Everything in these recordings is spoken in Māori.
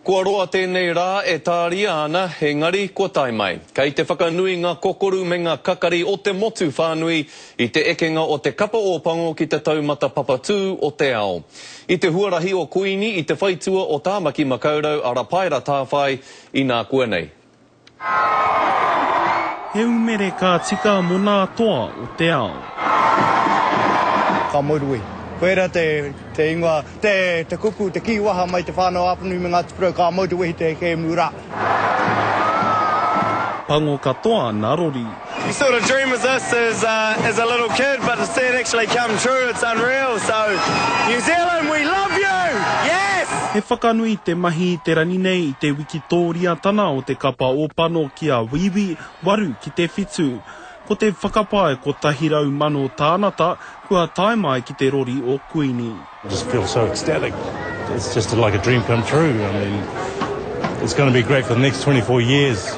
Kua roa tēnei rā e tāria ana, engari kua tae mai. Kei te whakanui ngā kokoru me ngā kakari o te motu whānui i te ekenga o te Kapa Ōpango ki te taumata papatū o te ao. I te huarahi o Kuini i te whaitua o Tāmaki Makaurau a Rapaera Tāwhai, inākuanei. He umere ka tika mo na toa o te ao. Ka moerue. Koera te, te ingoa, te, te kupu, te kii waha mai te whanau Apanui me Ngati Porou, ka moeruwehi te kemu ra. Pango katoa na rori. You sort of dream of this as as a little kid but to see it actually come true it's unreal so New Zealand we love you yes! He whakanui te mahi i te rangi nei i te wikitōriatana o te kapa ōpano ki a Wīwī, waru ki te whitu. Ko te whakapae 100,000 tānata kua tae mai ki te rori o Kuini. Just feel so ecstatic. It's just like a dream come true. I mean, it's going to be great for the next 24 years.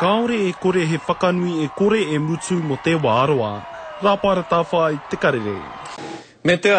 Kāore e kore he whakanui e kore e mutu mō te wā roa. Rāpara Tāwhai, Te Karere. Me te aha?